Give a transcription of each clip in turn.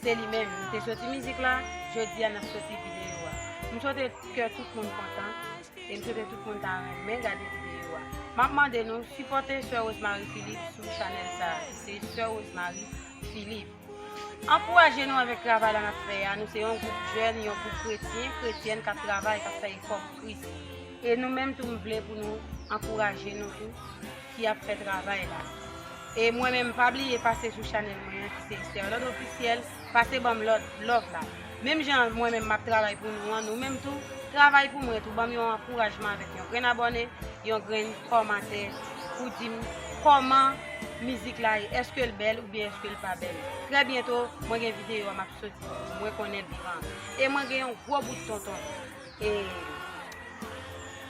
Se li menm, li te soti mizik la, jodi a nap soti videyo a. M swete kè tout moun kontan e m swete tout moun ta renmen gade videyo a. Map mande nou sipòte Soeur Rosemary Philippe sou chanèl sa a ki se Soeur Rosemary Philippe. Ankouraje nou avèk travay la nap fè a, nou se yon gwoup jèn, yon gwoup kretyen, kretyèn kap travay, kap fè efò pou Kris. E nou menm tou m vle pou nou ankouraje nou tou ki ap fè travay la. E mwen menm pa bliye pase sou chanèl mwen an ki se Esterlande Officiel, pase banm lòt love la. Menm jan mwen menm map travay pou nou an, nou menm tou travay pou mwen tou, banm yon ankourajman avèk yon grenn abòne, yon grenn kòmantè pou dim kòman mizik la ye, eske l bèl oubyen eske l pa bèl. Trè byento mwen gen videyo a map soti pou mwen konnen l vivan. E mwen gen yon gwo bout tonton. e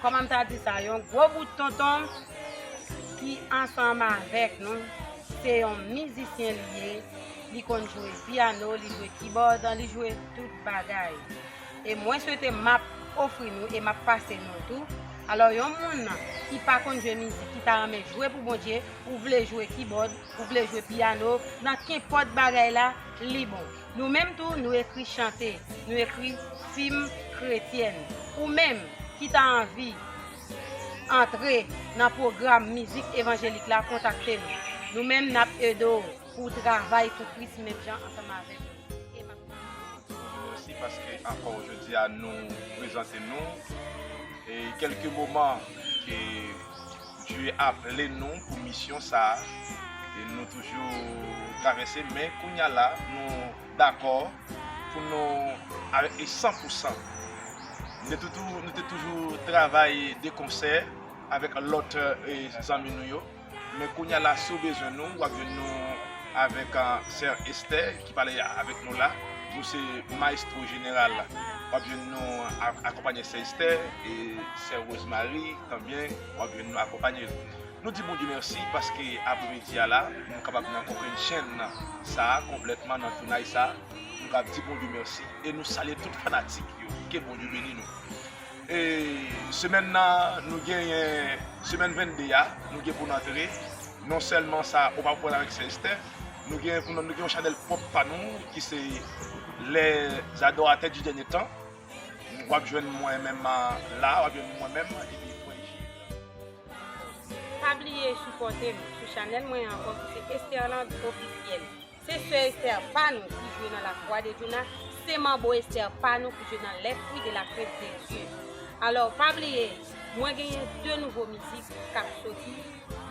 kòman m ta di sa yon gwo bout tonton ki ansanm avèk nou se yon mizisyen li ye li konn jwe piano li jwe kibòd li jwe tout bagay e mwen swete m ap ofri nou e m ap pase nou tou alò yon moun ki pa konn jwe mizik ki ta renmen jwe pou Bondye ou vle jwe kibòd ou vle jwe piano nan kenpòt bagay la li bon. Nou menm tou nou ekri chante, nou ekri fim kretyèn. Ou menm ki ta anvi antre nan pwogram mizik evanjelik la kontakte nou. Nou menm nap ede w pou w travay pou Kris menm jan ansanm avèk nou. Mèsi paske ankò jodi a nou prezante nou kèlke moman ke Dye aple nou pou misyon sa a e nou toujou travèse men kounya la nou dakò pou nou avèk li san pou san. Nou te toujou travay de konsè avèk lòt zanmi nou yo men kounya la si w bezwen nou w ap jwenn nou avèk sè Esther. ki pale avèk nou la. Nou se maestro jeneral wap jwenn nou akonpanye sè estè e sè rose marie tanbyen wap jwenn nou akonpanye nou di bondye mèsi paske apre midi a la nou kapab nan konprenn chenn sa konplètman nan tounay sa nou kapab di bondye mèsi e nou salye tout fanatik yo ke bondye beni nou. E semèn nan nou genyen semèn 22 a nou gen pou n antre non sèlman sa ou pa pwòl avèk sè Estè nou gen pou nou gen yon chanèl pwòp pa nou ki se les adorateurs du dernier temps w ap jwenn mwen menm la w ap jwenn mwen menm epi frè Jil. Pa bliye sipòte m sou chanèl mwen an ankò ki se Esterland Officiel. Se sè Esther pa nou ki jwe nan la croix de Djouna, se manbo Esther pa nou ki jwe nan les fruits de la crainte de Dieu. Alors pa bliye mwen genyen 2 nouvo mizik kap soti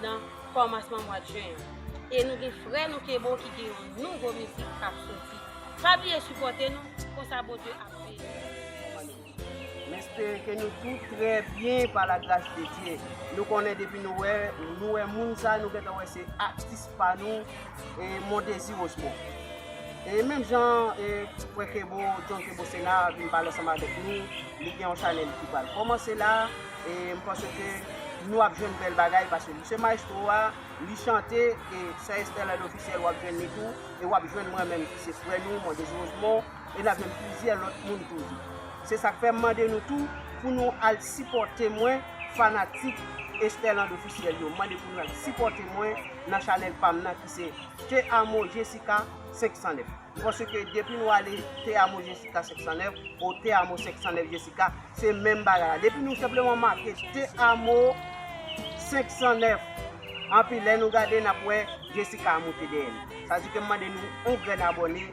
nan kòmansman mwad jen an. E nou gen frè nou Kebo ki gen yon nouvo mizik kap soti. Pa bliye sipòte nou, konsa Bondye ap beni nou. M espere ke nou tout trè byen pa la gras de Dye. Nou konnen depi nou wè, nou wè moun sa nou gentan wè se atis pa nou e Mondésir Osmond. E menm jan e frè Kebo, John Kebo Sena vin pale ansanm avèk nou, li gen yon chanèl ki pral kòmanse la e m panse ke nou ap jwenn bèl bagay paske li se maestro a, li chante e Soeur Estelle Officiel w ap jwenn li tou e w ap jwenn mwen menm ki se frè nou Mondésir Osmond. e n ap jwenn plizyè lòt moun toujou. Se sa k fè m mande nou tou pou nou al sipòte mwen, fanatik Estherland Officiel yo, m mande pou nou al sipòte mwen nan chanèl pa m nan ki se Te Amo Jessica 509. Paske depi nou ale Te Amo Jessica 509 ou Te Amo 509 Jessica, se menm bagay la. Depi nou senpleman make Te Amo 509, anpi lè nou gade n ap wè Jessica a moute dèyè l. Sa di ke m mande nou yon grenn abòne.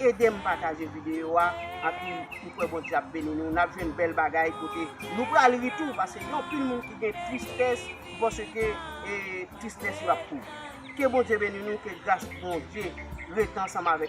Edem pataje video a anpil m kwè Bondye ap beni nou nap jwenn bèl bagay kote nou pral ri tou paske gen anpil moun ki gen tristès pou paske tristès yo ap kouri ke Bondye beni nou ke gras Bondye ret ansanm avèk